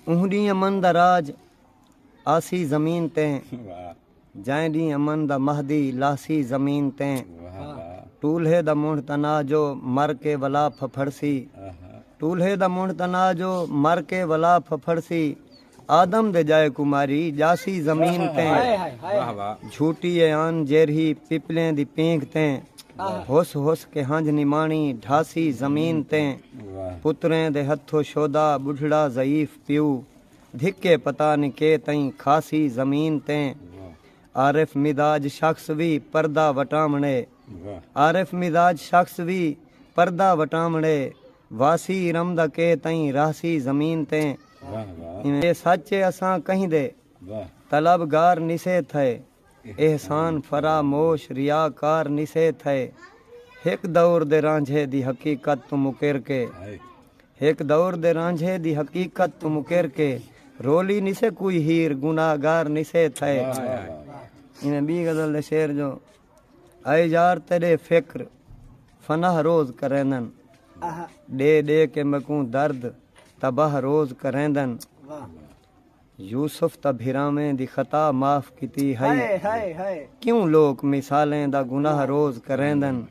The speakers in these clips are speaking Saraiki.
اوں ڈینہہ امن دا راج آسی زمین تے جائیں ڈینہہ امن دا مہدی لاہسی زمین تے ٹولھے دا منڈھ تنا جو مر کے ولا پھپھڑسی ٹولھے دا منڈھ تنا جو مر کے ولا پھپھڑسی آدم دے جائے کوں ماری جاسی زمین تیں جھوٹی اے آن جیرھی پپلیں دی پینگ تیں ہس ہس کے ہنجھ نماݨی ڈھاسی زمین تیں پتریں دے ہتھو شودا بڈھڑا ضعیف پیو دھکے پتا نی کے تئیں کھاسی زمین تیں عارف مزاج شخص وی پردہ وٹاونڑے عارف مزاج شخص وی پردہ وٹاونڑے۔ واسی ارم دا کے تئیں رہسی زمین تے اے سچ اے اساں کہیں دے طلب گار نسے تھئے احسان فرا موش ریا کار نسے تھئے ہک دور دے رانجھے دی حقیقت توں مکر کے ہک دور دے رانجھے دی حقیقت توں مکر کے رولی نسے کوئی ہیر گناہ گار نسے تھئے ایویں بی غزل دے شعر جو۔ اے یار تیݙے فکر فناہ روز کریندن ݙے ݙے کے میکوں درد تباہ روز کریندن یوسف تاں بھراویں دی خطا معاف کیتی ہئی کیوں لوک مثالیں دا گناہ روز کریندن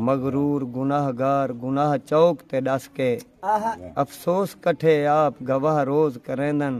مغرور گناہ گار گناہ چوک تے ݙس کے افسوس کٹھے آپ گواہ روز کریندن۔